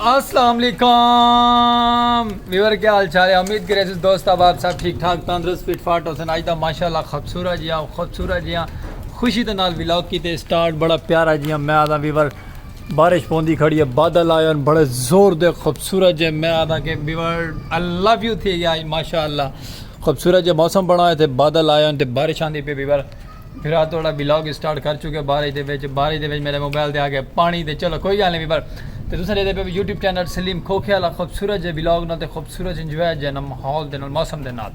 السلام علیکم ویور کیا حال چال ہے امید کرے سس دوست اب آپ سب ٹھیک ٹھاک تندرست فٹ فاٹ ہو سن آج دا ماشاءاللہ خوبصورت جیاں خوبصورت جیاں خوشی دے نال ولاگ کیتے سٹارٹ بڑا پیارا جیاں میں آدھا ویور بارش پوندی کھڑی ہے بادل آئے ہن بڑے زور دے خوبصورت جے میں آدھا کہ بیورڈ آئی لو یو تھی گیا ماشاءاللہ خوبصورت جے موسم بنا ہے تے بادل آئے ہن تے بارش آندی پی بیور پھر آ توڑا بلاگ اسٹارٹ کر چکے بارش دے وچ بارش دے وچ میرے موبائل دے آگے پانی دے چلو کوئی گال نہیں بیور تے تساں دے دے پہ یوٹیوب چینل سلیم کھوکھے والا خوبصورت جے بلاگ نال تے خوبصورت انجوائے جے نال ماحول دے نال موسم دے نال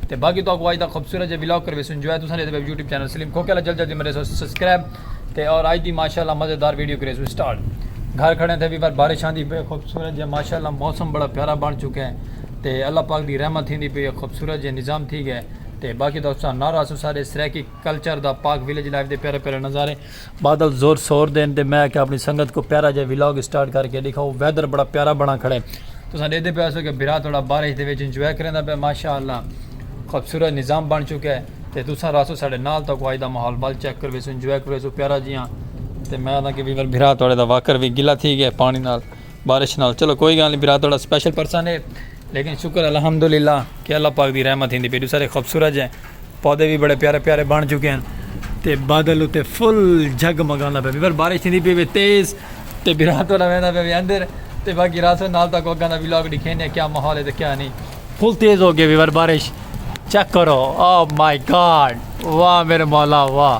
تے باقی تہاکوں اج دا خوبصورت جیہا ولاگ کرویسوں انجوائے تساں جیہڑے ویب یوٹیوب چینل سلیم کھوکھے آلا جلد جلدی مریسو سبسکرائب تے اور اج دی ماشاءاللہ مزیدار ویڈیو کریسوں سٹارٹ گھر کھڑے تھے ویور بارش آندی پئی خوبصورت جیہا ماشاءاللہ موسم بڑا پیارا بن چکے تے اللہ پاک دی رحمت تھیندی پئی ہے خوبصورت جیہا نظام تھی گئے تے باقی تہاکوں سنارا اسوں سارے سرائیکی کلچر دا پاک ولیج لائف دے پیارے پیارے نظارے بادل زور سور دین تے میں آکھیا اپنی سنگت کوں پیارا جیا ولاگ اسٹارٹ کر کے ڈکھاؤ ویدر بڑا پیارا بنا کھڑے تساں ڈیدھے پے ہسو کہ بھرا تہاڈا بارش دے وچ انجوائے کریندا پے ماشاء اللہ خوبصورت نظام بن چکے تے تساں رہسو ساڈے نال تہاکوں اج دا ماحول ول چیک کرویسوں انجوائے کرویسوں پیارا جیاں تے میں آکھدا کہ ویور بھرا تہاڈے دا واکر وی گلا تھی گئے پانی نال۔ بارش نال چلو کوئی گال نہیں برا تھوڑا سپیشل پرسن ہے لیکن شکر الحمدللہ کہ اللہ پاک دی رحمت ہندی پیڈو سارے خوبصورت ہیں پودے بھی بڑے پیارے پیارے بن چکے ہیں تے بادل اتے فل جگ مگانا پہ بھر بارش تھی پہ بھی تیز تے برات والا وینا پہ بھی اندر تے باقی راسو نال تک وگا دا ویلاگ دکھے نے کیا ماحول ہے تے کیا نہیں فل تیز ہو گئے بھر بارش چیک کرو او مائی گاڈ واہ میرے مولا واہ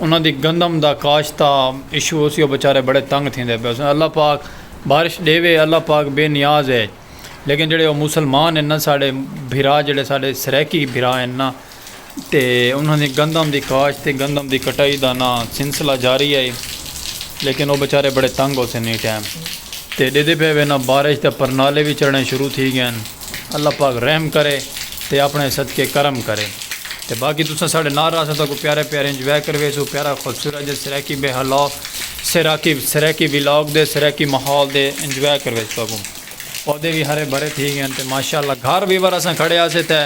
انہاں دی گندم دا کاشت دا ایشو ہوسی او بیچارے بڑے تنگ تھیندے پئے ہوسن اللہ پاک بارش ڈیوے اللہ پاک بے نیاز اے لیکن جیڑھے او مسلمان ہن نا ساڈے بھرا جیڑھے ساڈے سرائیکی بھرا ہن نا تے انہاں دی گندم دی کاشت تے گندم دی کٹائی دا نا سلسلہ جاری اے لیکن او بیچارے بڑے تنگ ہوسن ایں ٹائم تے ڈیدے پئے ہوے نا بارش دے پرنالے وی چڑھنے شروع تھی گئے ہن۔ اللہ پاک رحم کرے تے اپݨے صدقے کرم کرے تے باقی تساں ساڈے نال رہسو تاں کو پیارے پیارے انجوائے کرویسو پیارا خوبصورت جے سرائیکی بے ہلا سرائیکی سرائیکی ولاگ دے سرائیکی ماحول دے انجوائے کرویسو تاکوں پودے وی ہرے بھرے تھی گئے تے ماشاءاللہ گھر وی ور اساں کھڑے ہاسے تے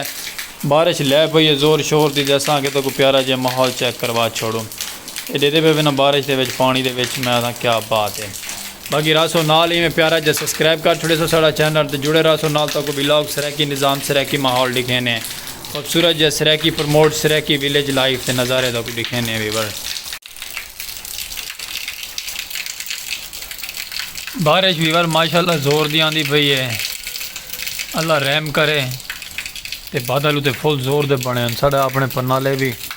بارش لے پئی ہے زور شور دی تے اساں آکھیا تاکوں پیارا جے ماحول چیک کروا چھوڑوں ایڈے دے پے وینا بارش دے وچ پانی دے وچ میں آکھاں کیا بات ہے۔ باقی رہسو نال ایویں پیارا جا سسکرائب کر چھوڑیسو ساڑا چینل تے جڑے رہسو نال تہاکوں ولاگ سرائیکی نظام سرائیکی ماحول ڈکھینے خوبصورت جا Saraiki promote Saraiki village life تے نظارے تہاکوں ڈکھینے ویور۔ بارش ویور ماشاءاللہ زور دی آندی پئی ہے اللہ رحم کرے تے بادل اتے فل زور دے بنے ہن ساڑے اپنے پرنالے وی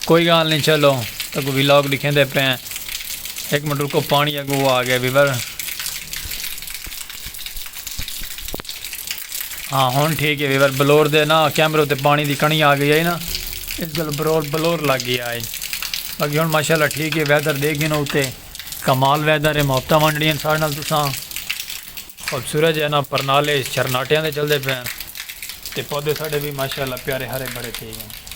کوئی گال نی چلو تکوں ویلاگ ڈکھیندے پئیں ہک منٹ رکو پانی اگو آ گیا ویور ہاں ہن ٹھیک ہے ویور بلور دے نا کیمرے تے پانی دی کڑی آ گئی ہے نا اس گل برور بلور لگ گیا ہے باقی ہن ماشاءاللہ ٹھیک ہے ویدر دیکھ گئے نا اوتے کمال ویدر ہے محبتہ ونڈنی ہیں سارے نال تساں اب سورج ہے نا پرنالے چرناٹیاں دے چلدے پئیں تے پودے ساڈے بھی ماشاءاللہ پیارے ہرے بھرے تھے ہیں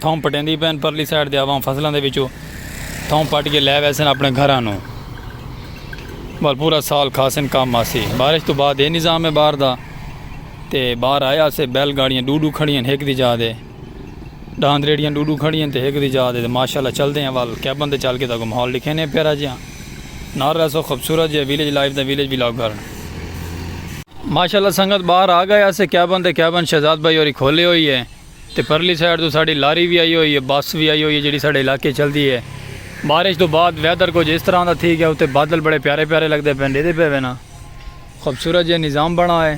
تھاؤں پٹیندی پئن پرلی سائیڈ دے عوام فصلاں دے وچوں تھاؤں پٹ کے لے ویسن اپنے گھراں نوں بل پورا سال کھاسن کام آسی بارش تو بعد اے نظام ہے باہر دا تے باہر آئے آسے بیل گاڑیاں ڈو ڈو کھڑیاں ہک دی جا دے ڈاند ریڑیاں ڈو ڈو کھڑیاں تے ہک دی جا دے تے ماشاءاللہ چل دے ہیں وال کیبن تے چل کے تاکو ماحول لکھے نے پیرا جیاں نار رہسو خوبصورت جیاں ویلیج لائف دا ویلیج بلاگ گھر ماشاءاللہ سنگت باہر آ گئے آسے کیبن تے کیبن شہزاد بھائی اور ہی کھولے ہوئی ہے تے پرلی سائیڈ توں ساڈی لاری وی آئی ہوئی اے بس وی آئی ہوئی اے جیڑھی ساڈے علاقے چلدی اے بارش توں بعد ویدر کجھ اس طرح دا تھی گیا اتے بادل بڑے پیارے پیارے لگدے پئن ڈیدھے پئے وینا خوبصورت جیہا نظام بنا اے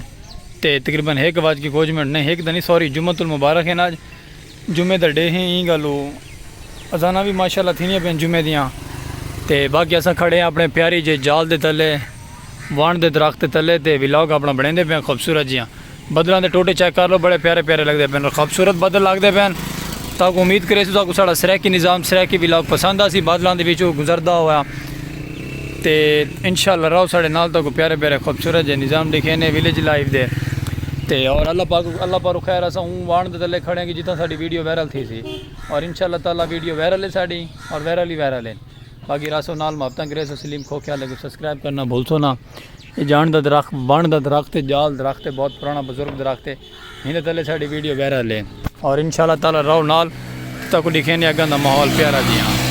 تے تقریبا ہک وج کے کجھ منٹ نئیں ہک تاں نئیں سوری جمعۃ المبارک اے نا اج جمعے دا ڈے ہیں ایں گالو اذاناں وی ماشاءاللہ تھیندیاں پئن جمعے دیاں تے باقی اساں کھڑے ہیں اپنے پیاری جے جال دے تلے وانڈ دے درخت دے تلے تے ولاگ اپنا بنڑیندے پئے ہیں خوبصورت جیہاں۔ بدلاں دے ٹوٹے چیک کر لو بڑے پیارے پیارے لگدے پین خوبصورت بدل لگدے پین تاکو امید کرے سو تاکو ساڑا سریکی نظام سریکی ولاگ پسند آسی بادلاں دے وچوں گزردہ ہویا تے انشاءاللہ رہو ساڑے نال تاکو پیارے پیارے خوبصورت جے نظام دکھینے ویلیج لائف دے تے اور اللہ پاک اللہ پارو خیر اسا ہوں وان دے تلے کھڑے ہیں کہ جتنا ساڑی ویڈیو ویرل تھی سی اور انشاءاللہ تعالی ویڈیو ویرل ہے ساڑی اور ویرل ہی ویرل ہے باقی راسو نال محبتاں کرے سو سلیم کھوکھے والے کو سبسکرائب کرنا بھول سو نا اے جان دا درخت بان دا درخت ہے جال درخت ہے بہت پرانا بزرگ درخت ہے ہن دے تلے ساڈی ویڈیو وائرل ہے اور انشاءاللہ تعالی رہو نال تاں کو ڈکھینے اگاں دا ماحول پیارا جیاں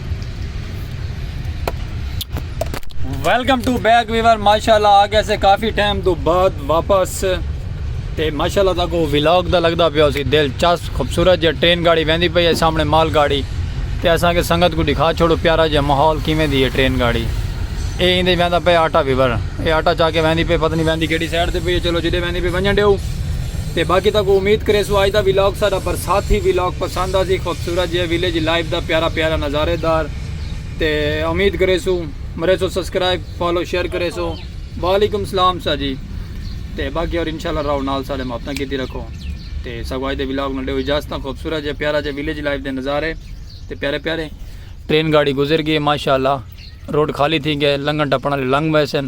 ویلکم ٹو بیک ویور ماشاءاللہ آ گیا سے کافی ٹائم تو بعد واپس تے ماشاءاللہ تاکو ویلاگ دا لگدا پیا اسی دل چاس خوبصورت جے ٹرین گاڑی ویندی پئی ہے سامنے مال گاڑی تے اساں کے سنگت کو دکھا چھوڑو پیارا جے ماحول کیویں دی ہے ٹرین گاڑی اے ایندے ویندا پے آٹا ویور اے آٹا چا کے ویندی پے پتہ نہیں ویندی کیڑی سائیڈ تے پئی ہے چلو جدے ویندی پے ونجن دیو تے باقی تاکو امید کرے سو آج دا ویلاگ ساڈا برساتی ویلاگ پسند آسی خوب سورج ہے ویلیج لائف دا پیارا پیارا نظارے دار تے امید کریسو مریسو سبسکرائب فالو شیئر کریسو وعلیکم السلام سا جی تے باقی اور انشاءاللہ راو نال سارے محبتاں کیتی رکھو تے سگوائی دے ولاگ نڈے ہو اجازتاں خوبصورت جے پیارا جے ویلیج لائف دے نظارے تے پیارے پیارے ٹرین گاڑی گزر گئے ماشاءاللہ روڈ خالی تھی گئے لنگن ٹپن والے لنگ ویسن